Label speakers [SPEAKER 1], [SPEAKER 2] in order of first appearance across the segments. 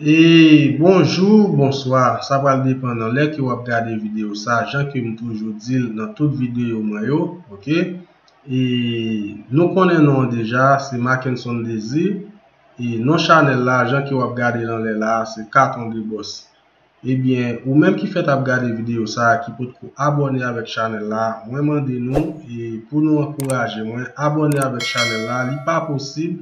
[SPEAKER 1] Eeeeee
[SPEAKER 2] bonjour bonsoir sa pral depan nan lè ke wap gade video sa jan kem toujou dil nan tout video mwen yo ok eeeeeee nou konnen non an deja se Mackenson Désir e non chanel la jan ke wap gade nan lè la se Carton de Boss. Ebyen ou menm ki fèt ap gade video sa ki potko abòne avèk chanèl la mwen mande nou pou nou ankouraje mwen abòne avèk chanèl la li pa posib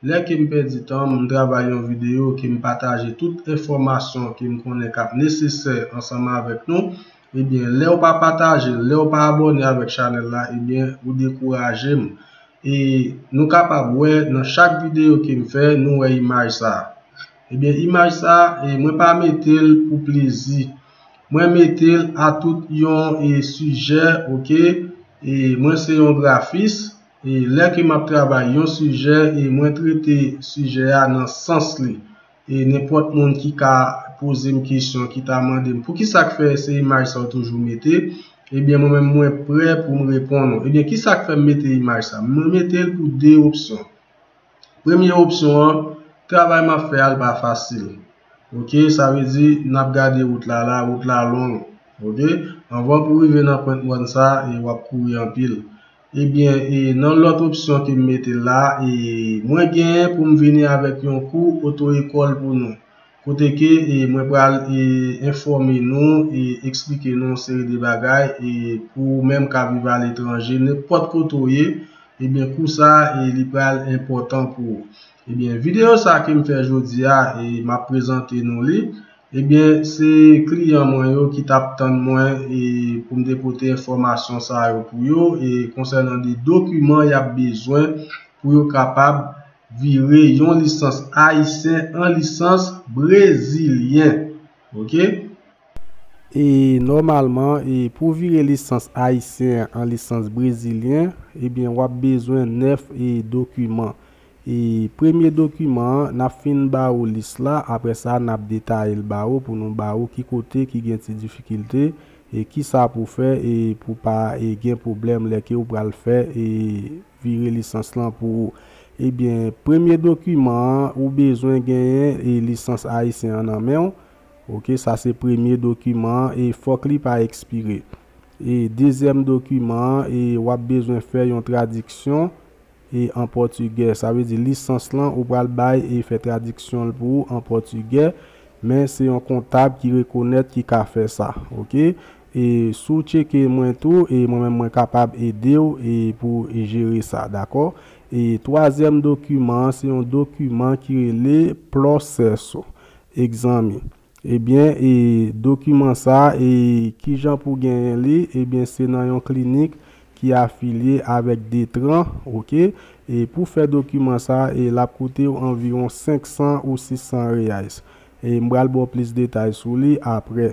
[SPEAKER 2] lè kem pèdi tanm m travay yon video kem pataje tout enfòmasyon kem konnen kap nesesè ansanm avèk nou ebyen lèw pa patajel lèw pa abòne avèk chanèl la ebyen ou dekourajem e nou kapab wè nan chak video kem fè nou wè imaj sa. Ebyen imaj sa mwen pa metel pou plezi mwen metel a tout yon sijè ok mwen se yon grafis lè ke map travay yon sijè mwen trete sijè a nan sans li nenpòt moun ki ka pozem kesyon ki ta mandem poukisak fè se imaj sa ou toujou mete ebyen mwen menm mwen prè poum reponn ou ebyen kisak fèm mete imaj sa mwen metel pou 2 opsyon. Premye opsyon an, travay map fè a l pa fasil ok sa vle di nap gade wout la la wout la long ok anvan pou rive nan pwent mòn sa e wap kouri anpil ebyen e nan lòt opsyon kem mete la e mwen gen poum vini avèk yon kou oto ekòl pou nou kote ke mwen pral enfòme nou e eksplike nou yon seri de bagay e pou ou menm kap viv a letranje nenpòt kote ou ye ebyen kou sa li pral enpòtan pou ou ebyen videyo sa kem fè jodi a e map prezante nou li ebyen se kliyan mwen yo ki tap tann mwen e poum te pote enfòmasyon sa yo pou yo e konsènan de dokiman yap bezwen pou yo kapab vire yon lisans ayisyen an lisans brezilyen ok. E nòmalman e pou vire lisans ayisyen an lisans brezilyen ebyen wap bezwen 9 e dokiman e premye dokiman an nap fin ba ou lis la aprè sa nap detayel ba ou pou nou ba ou ki kote ki gen ti difikilte e kisa pou fè e pou pa e gen pwoblèm lè ke ou pral fè e vire lisans lan pou ou. Ebyen, premye dokiman an, ou bezwen genyen e lisans ayisyen an nan menw, ok, sa se premye dokiman an e fòk li pa ekspire. E dezyèm dokiman an e wap bezwen fè yon tradiksyon e an pòtigè, sa vle di lisans lan ou pral bay e fè tradiksyonl pou ou an pòtigè, men se yon kontab ki rekonèt ki ka fè sa, ok. E si w tcheke mwen tou e mwen menm mwen kapab ede w e pou jere sa dakò. E twazyèm dokiman an se yon dokiman ki rele Ploseso egzami. Ebyen e dokiman sa e kijan pou genyen li ebyen se nan yon klinik ki afilye avèk Detran ok. E pou fè dokiman sa e lap koute w anviwon 500 ou 600 reais. E m pral ba w plis detay sou li aprè.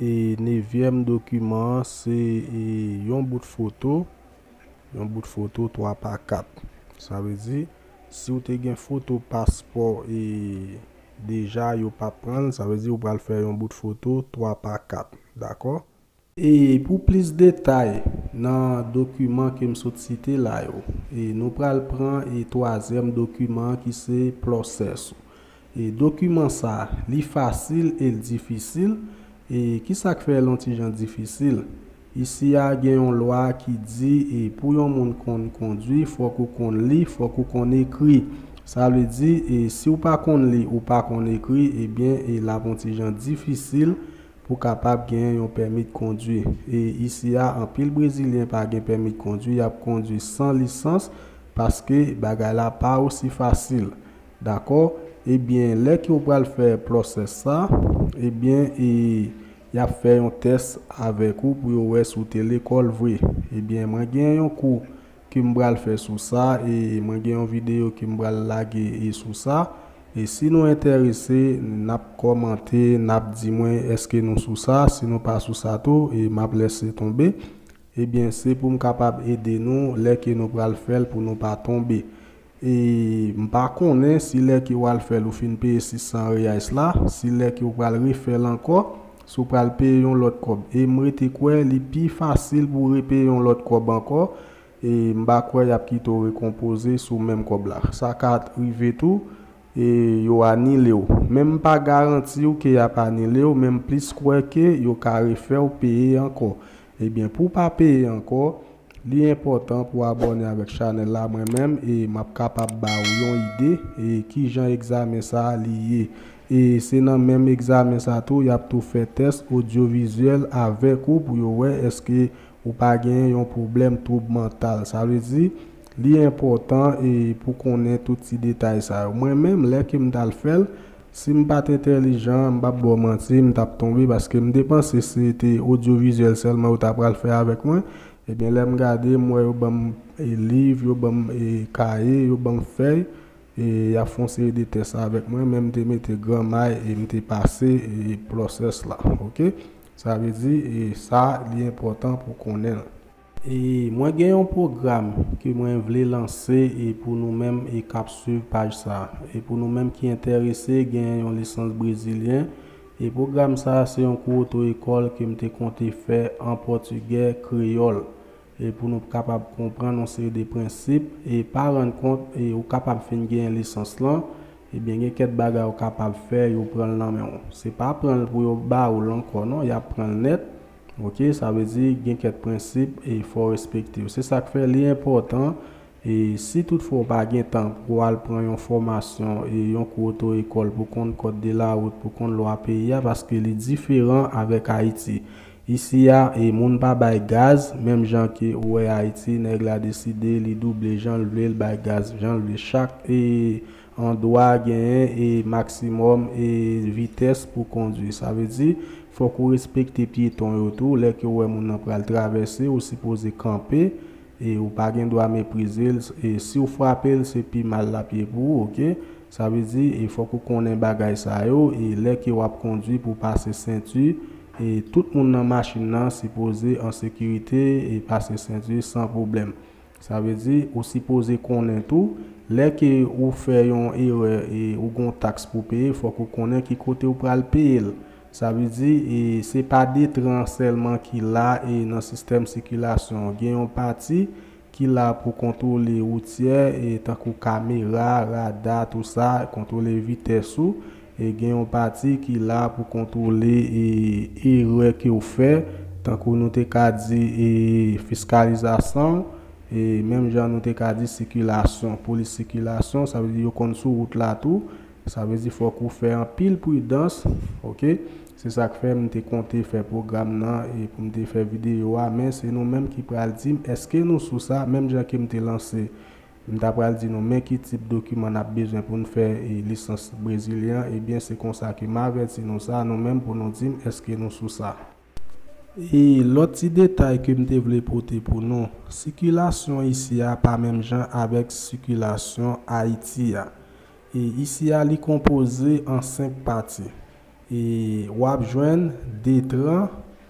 [SPEAKER 2] E nevyèm dokiman an se yon bout foto, yon bout foto 3 pa 4. Sa vle di, si w te gen foto paspò e deja yo pa pran l, sa vle di ou pral fè yon bout foto 3 pa 4. Dakò? E pou plis detay, nan dokiman ke m sot site la yo, nou pral pran twazyèm dokiman an ki se Plòsès ou. E dokiman sa, li fasil e l difisil? E ki sa k fè l on ti jan difisil? Isi a gen yon lwa ki di e pou yon moun konn kondwi fòk ou konn li, fòk ou konn ekri. Sa vle di e si w pa konn li, ou pa konn ekri, ebyen e l ap on ti jan difisil pou kapab genyen yon pèmit kondwi. E isi a anpil brezilyen pa gen pèmit kondwi, y ap kondwi san lisans paske bagay la pa osi fasil. Dakò, ebyen lè ke ou pral fè process sa, ebyen e yap fè yon tès avèk ou pou yo wè si ou te lekòl vre. Ebyen mwen gen yon kou ke m pral fè sou sa e mwen gen yon video ke m pral lage e sou sa, e si nou entèrese nap kòmante nap di mwen eske nou sou sa, si nou pa sou sa tou e map lèse tonbe, ebyen se pou m kapab ede nou lè ke nou pral fèl pou nou pa tonbe. E m pa konnen si lè ke w al fè l ou fin peye 600 reais la, si lè ke w pral refè l ankò, si w pral peye yon lòt kòb. E m rete kwè li pi fasil pou w repeye yon lòt kòb ankò, e m pa kwè y ap kite w rekonpoze sou menm kòb la. Sa ka rive tou, e yo anile w. Men m pa garanti w ke y ap anile w, men m plis kwè ke yo ka refè w peye ankò. Ebyen pou pa peye ankò li enpòtan pou abòne avèk chanèl la mwen menm e map kapab ba ou yon ide e kijan egzamen sa li ye e se nan menm egzamen sa tou yap tou fè tès odyo vizyèl avèk ou pou yo wè eske ou pa genyen yon pwoblèm twoub mantal sa vle di li enpòtan e pou konnen tout ti detay sa yo mwen menm lè kem tal fèl Si m pat entèlijan, m pap ba w manti, m tap tonbe paske m te panse se te odyovizyèl sèlman yo ta pral fè avèk mwen. Ebyen lè m gade, m wè yo ban m liv, yo ban m kaye, yo ban m fèy e y ap fè yon seri de tès avèk mwen men m te mete gran may e m te pase pwosès la. Ok, sa vle di e sa li enpòtan pou w konnen l. E mwen gen yon pwogram ke mwen vle lanse e pou nou menm e kap swiv paj sa. E pou nou menm ki entèrese gen yon lisans brezilyen. E pwogram sa se yon kou oto ekòl ke m te konte fè an pòtigè kreyòl. E pou nou kapab konprann yon seri de prensip e pa rann kont e ou kapab fin genyen lisans lan. Ebyen gen kèt bagay ou kapab fè yo pranl nan menw. Se pa pranl pou yo ba oul ankò non yap pranl nèt. Ok sa vle di gen kèk prensip e fò w respekte yo se sak fè li enpòtan e si tout fwa w pa gen tan pou w al pran yon fòmasyon e yon kou oto ekòl pou konn kòd de la rout pou konn lwa peyi a paske li diferan avèk ayiti isi a e moun pa bay gaz menm jan ke ou wè ayiti nèg la deside li double jan l vle l bay gaz jan l vle chak e On dwa genyen e maksimòm e vitès pou kondwi. Sa vle di, fòk ou respekte pyeton yo tou. Lè ke ou wè moun nan pral travèse, ou sipoze kanpe e ou pa gen dwa meprize l. E si ou frape l, se pi mal l ap ye pou ou, ok. Sa vle di, e fòk ou konnen bagay sa yo e lè ke w ap kondwi pou w pase senti e tout moun nan machin nan sipoze an sekirite e pase senti san pwoblèm. Sa vle di ou sipoze konnen tou lè ke ou fè yon erè e ou gon taks pou peye fòk ou konnen ki kote ou pral peye l. Sa vle di e se pa Detran sèlman ki la e nan sistèm sikilasyon an. Gen yon pati ki la pou kontwole woutyè e tankou kamera, rada tou sa, kontwole vitès ou. Gen yon pati ki la pou kontwole erè ke w fè, tankou nou te ka di fiskalizasyon, menm jan nou te ka di sikilasyon, polis sikilasyon, sa vle di yo konn sou wout la tou, sa vle di fòk ou fè anpil pridans, ok, se sa k fè m te konte fè pwogram nan e pou m te fè videyo a, men se nou menm ki pral di m èske nou sou sa, menm jan ke m te lanse M ta pral di nou men ki tip dokiman n ap bezwen pou n fè lisans brezilyen an, ebyen se konsa ke m avèti nou sa nou menm pou nou di m èske nou sou sa. E lòt ti detay ke m te vle pote pou nou, sikilasyon isi a pa menm jan avèk sikilasyon Ayiti a. E isi a li konpoze an 5 pati. E w ap jwenn Detran.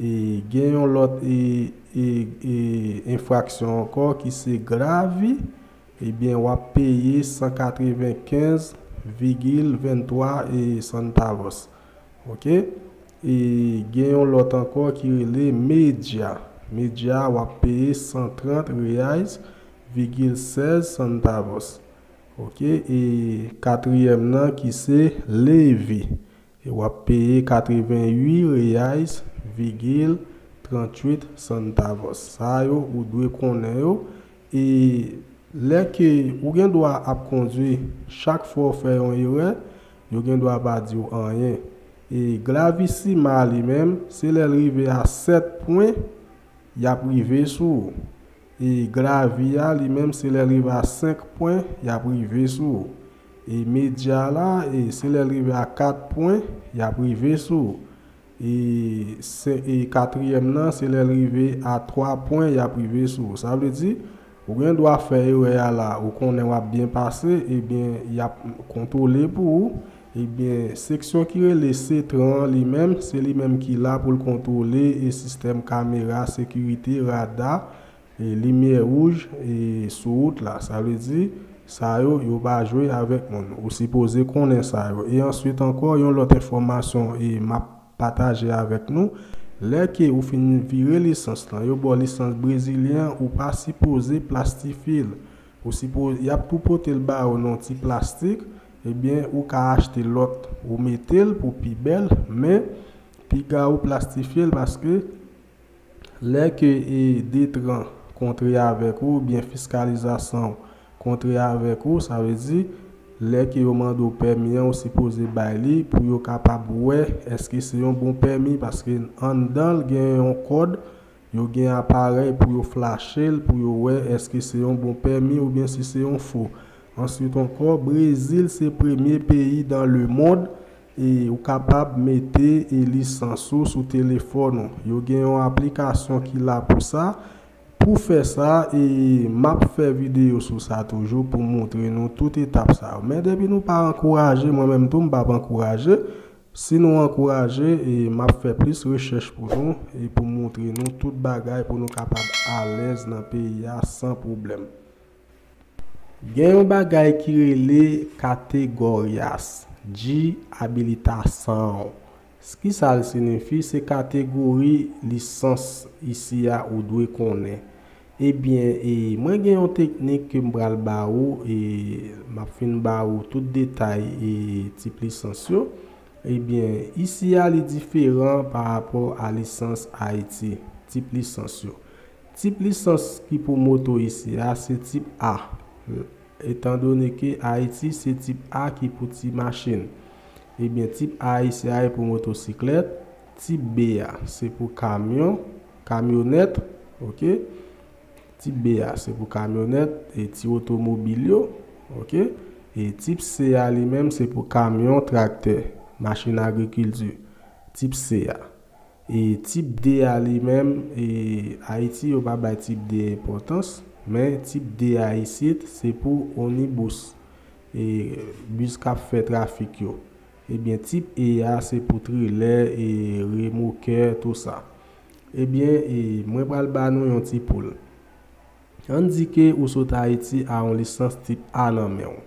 [SPEAKER 2] E gen yon lòt e e e enfraksyon ankò ki se gravi, ebyen w ap peye 195 vigil 23 e santavos. Ok. E gen yon lòt ankò ki rele medya. Medya w ap peye 130 reais vigil 16 santavos. Ok. E katriyèm nan ki se levi. E wap peye 88 reais vigil 38 santavos sa yo ou dwe konnen yo e lè ke ou gen dwa ap kondwi chak fwa ou fè yon erè yo gen dwa pa di ou anyen e glavissima li menm se lèl rive a 7 pwen yap rive sou ou E gravi a li menm se lèl rive a 5 pwen yap rive sou ou. E medya la e se lèl rive a 4 pwen yap rive sou ou. E se e katriyèm nan se lèl rive a 3 pwen yap rive sou ou. Sa vle di ou gen dwa fè erè a la ou konnen wap byen pase ebyen yap kontwole pou ou Ebyen, seksyon ki rele Cetran an li menm, se li menm ki la pou l kontwole e sistèm kamera sekirite, rada, e limyè wouj e sou wout la. Sa vle di, sa yo, yo pa jwe avèk moun. Ou sipoze konnen sa yo. E answit ankò, yon lòt enfòmasyon e m ap pataje avèk nou, lè ke ou fin vire lisans lan, yo ba w lisans brezilyen an, ou pa sipoze plastifye l. Ou sipo, y ap tou pote l ba ou nan yon ti plastik, Ebyen ou ka achte lòt ou metel pou pi bèl men piga ou plastifyel paske lè ke e Detran kontre avèk ou oubyen fiskalizasanw kontre avèk ou sa vle di lè ke yo mande w pèmi an ou sipoze bay li pou yo kapab wè eske se yon bon pèmi paske anndanl gen yon kòd Yo gen aparèy pou yo flache l pou yo wè èske se yon bon pèmi oubyen si se yon fo. Answit ankò, Brezil se premye peyi dan lemond e ou kapab mete e lisans ou sou telefòn ou. Yo gen yon aplikasyon ki la pou sa. Pou fè sa e m ap fè videyo sou sa toujou pou montre nou tout etap sa yo. Men depi nou pa ankouraje, mwen menm tou m p ap ankouraje, Si nou ankouraje, m ap fè plis rechèch pou nou e pou m montre nou tout bagay pou nou kapab alèz nan peyi a san pwoblèm. Gen yon bagay ki rele kategoryas, Dji abilitasan w. S ki sa l sinifi, se kategori lisans isi a ou dwe konnen. Ebyen e mwen gen yon teknik ke m pral ba ou e m ap fin ba ou tout detay e tip lisans yo. Ebyen isi a li diferan pa rapò a lisans Ayiti, tip lisans yo. Tip lisans ki pou moto isi a se tip A, etan done ke Ayiti se tip A ki pou ti machin. Ebyen tip A isi a e pou motosiklèt, tip B a se pou kamyon, Kamyonèt, ok. Tip B a se pou kamyonèt e ti otomobil yo, ok. E tip C a li menm se pou kamyon, traktè, machin agrikilti, tip C a. E tip D a li menm, e Ayiti yo pa bay tip D enpòtans, men tip D a isit se pou onibus, e bis k ap fè trafik yo. Ebyen tip E a se pou trelè e remokè tou sa. Ebyen e mwen pral ba nou yon ti poul. Ann di ke ou sot Ayiti a yon lisans tip A nan men w.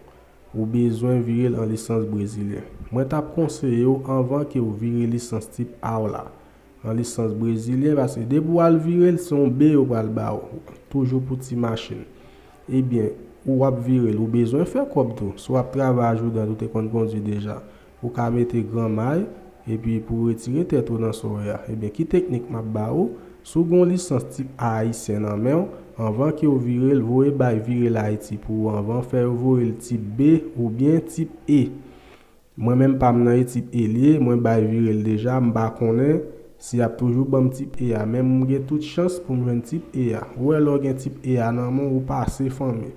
[SPEAKER 2] Ou bezwen vire l an lisans brezilyen. Mwen tap konseye w anvan ke w vire lisans tip A w la. An lisans brezilyen paske depi wal virel se yon be yo pral baw toujou pou ti machin ebyen ou wap virel ou bezwen fè kòb tou si wap travay a joudad ou te konn kondwi deja ou ka mete gran may epi pou retire tèt ou nan soe a ebyen ki teknik map ba ou si w gen yon lisans tip a ayisyen nan menw anvan kew virel voye bay virelhaiti pou ou anvan fè yo voyel tip be oubyen tip e Mwen menm pam nan e tip e liye mwen bay virel deja mpa konnen si yap toujou banm tip e a men mgen tout chans poum jwenn tip e a ou wè lèw gen tip e a nan menw ou pase fanmi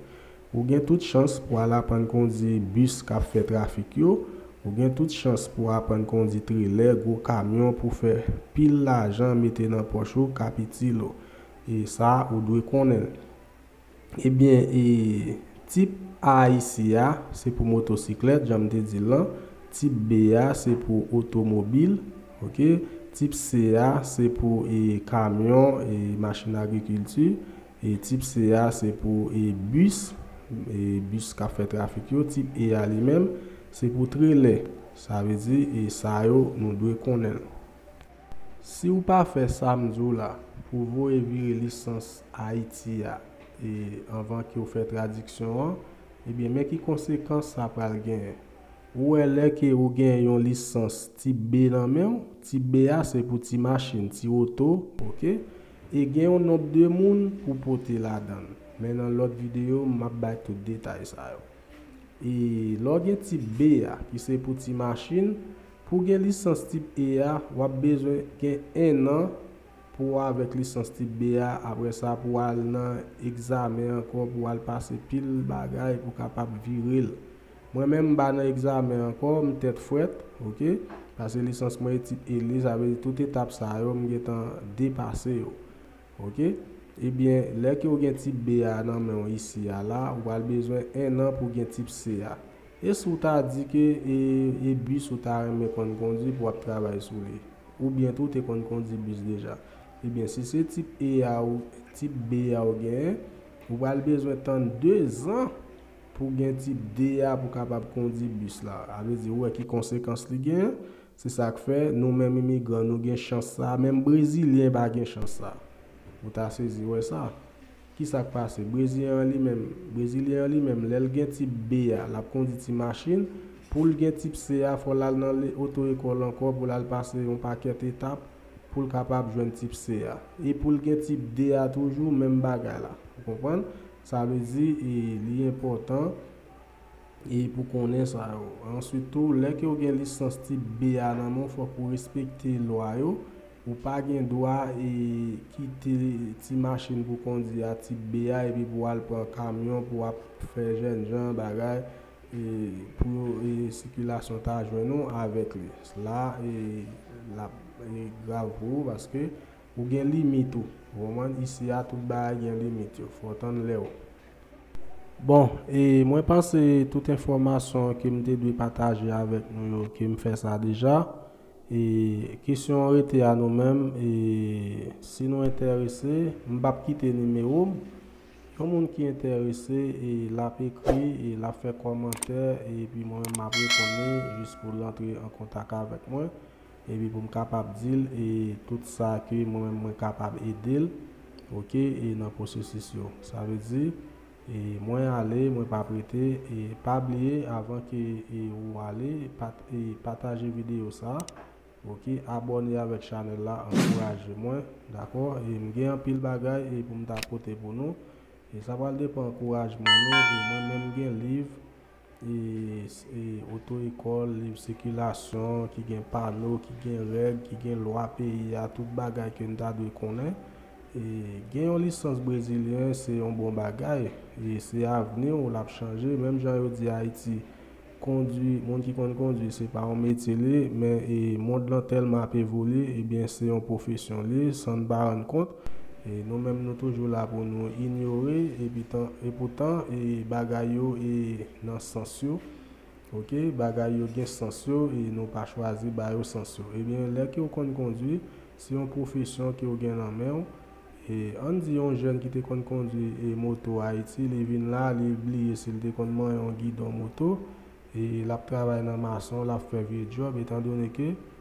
[SPEAKER 2] ou gen tout chans pou al aprann kondi bus kap fè trafik yo ou gen tout chans pou aprann kondi trelè gwo kamyon pou fè pil lajan mete nan pòch ou kap itil ou e sa ou dwe konnenl Ebyen e tip A isi a se pou motosiklèt jan m te di l lan, tip B a se pou otomobil ok, tip
[SPEAKER 3] C a se pou e kamyon e machin agrikilti, e tip C a se pou e bis e bis k ap fè trafik yo, tip E a li menm se pou trelè, sa vle di e sa yo nou dwe konnen l. Si ou pa fè sa m di w la, pou voye vire lisans Ayiti a e anvan ke w fè tradiksyon an, ebyen men ki konsekans sa pral genyen. Ou wè lè ke ou gen yon lisans tip B nan men w, tip B a se pou ti machin, ti oto, ok, e gen yon nonb de moun pou pote ladan l. Men nan lòt videyo m ap bay tout detay sa yo. E lè w gen tip B a ki se pou ti machin, Pou gen lisans tip E a, w ap bezwen gen 1 an pou w avèk lisans tip B a, aprè sa pou w al nan egzamen ankò pou w al pase pil bagay pou w kapab vire l. Mwen menm m pa nan egzamen ankò, m tèt frèt, ok, pase lisans mwen e tip E li, sa vle di tout etap sa yo m gentan depase yo. Ok, ebyen lè ke w gen tip B a nan men w isi a la, ou pral bezwen 1 an pou w gen tip C a. E si w ta di ke e bus ou ta renmen konn kondi pou w ap travay sou li? Oubyen tou w te konn kondi bus deja? Ebyen si se tip E a ou tip B a ou genyen, ou pral bezwen tann 2 zan pou w gen tip D a pou w kapab kondi bus la. Sa vle di ou wè ki konsekans li genyen? Se sa k fè nou menm imigran nou gen chans sa a, menm brezilyen pa gen chans sa a. Ou ta sezi wè sa. Kisak pase breziyen an li menm brezilyen an li menm lèl gen tip B a lap kondi ti machin poul gen tip C a fòl al nan le oto ekòl ankò poul al pase yon pakèt etap poul kapab jwenn tip C a e poul gen tip D a toujou menm bagay la ou konprann sa vle di e li enpòtan e pou konnen sa yo. Answit tou, lè ke ou gen lisans tip B a nan men w fòk ou respekte lwa yo, ou pa gen dwa e kite ti machin pou kondi a tip B a epi pou al pran kamyon pou ap fè jèn jan bagay e pou yo e sikilasyon ta jwenn ou avèk li. La e lap e grav pou ou paske ou gen limit ou. Ou konprann? Isi a tout bagay gen limit yo. Fò w tann lè w. Bon e mwen panse tout enfòmasyon ke m te dwe pataje avèk nou yo ke m fè sa deja. E kesyon an rete a nou menm e si nou entèrese m p ap kite nimewo m. Yon moun ki entèrese e l ap ekri e l ap fè kòmantè epi mwen menm m ap reponn li jis pou l antre an kontak avèk mwen. Epi pou m kapab di l e tout sa ke mwen menm mwen kapab ede l ok e nan pwosesis yo sa vle di e mwen ale mwen pa prete e pa bliye avan ke e ou ale pat e pataje video sa ok abòne avèk chanèl la ankouraje mwen dakò e m gen anpil bagay e pou m ta pote pou nou e sa pral depan ankourajman nou e mwen menm m gen liv oto ekòl, liv sikilasyon, ki gen pano, ki gen règ, ki gen lwa peyi a, tout bagay ke n ta dwe konnen. Gen yon lisans brezilyen se yon bon bagay, se avni w l ap chanje. Menm jan yo di Ayiti, kondwi, moun ki konn kondwi se pa yon metye li ye, men mond lan tèlman ap evolye, ebyen se yon pwofesyon li ye san n pa rann kont. Nou menm nou toujou la pou nou inyore epi tan epoutan bagay yo e nan sans yo ok bagay yo gen sans yo e nou pa chwazi ba yo sans yo ebyen lè kew konn kondwi se yon pwofesyon kew gen nan menw e ann di yon jèn ki te konn kondwi e moto ayiti li vin la li bliye sil te konn manyen yon gidon moto e lap travay nan mason lap fè vye djòb etan done ke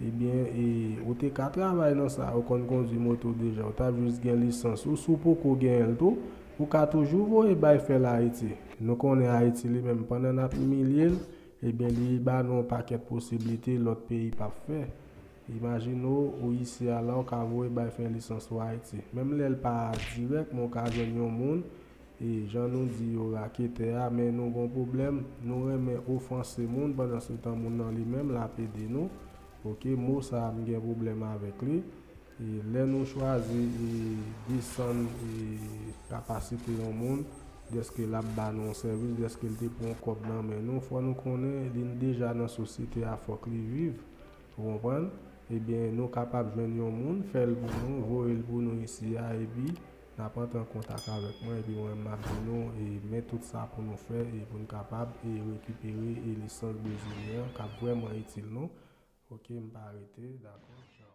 [SPEAKER 3] Ebyen e ou te ka travay nan sa ou konn kondwi moto deja ou tap jis gen lisans ou si w poko genyenl tou ou ka toujou voye bay fèl ayiti nou konnen ayiti li menm pandan nap imilyel ebyen li ba nou yon pakèt posiblite lòt peyi pap fè imajine w ou isi a la ou ka voye bay fè lisans ou ayiti menm lèl pa dirèk men ou ka jwenn yon moun E jan nou di yo raketè a men nou gon pwoblèm nou renmen ofanse moun pandan se tan moun nan li menm lap ede nou ok mo sa m gen pwoblèm avèk li e lè nou chwazi e desann e kapasite yon moun dèske lap ba nou yon sèvis dèske l te pran kòb nan men nou fò nou konnen li n deja nan sosyete a fòk li viv ou konprann ebyen nou kapab jwenn yon moun fè l pou nou voye l pou nou isi a epi Nap antre an kontak avèk mwen epi mwen menm map di nou e men tout sa pou nou fè e pou nou kapab e rekipere e lisans brezilyen an kap vrèman itil nou ok m pa rete dakò tchaw.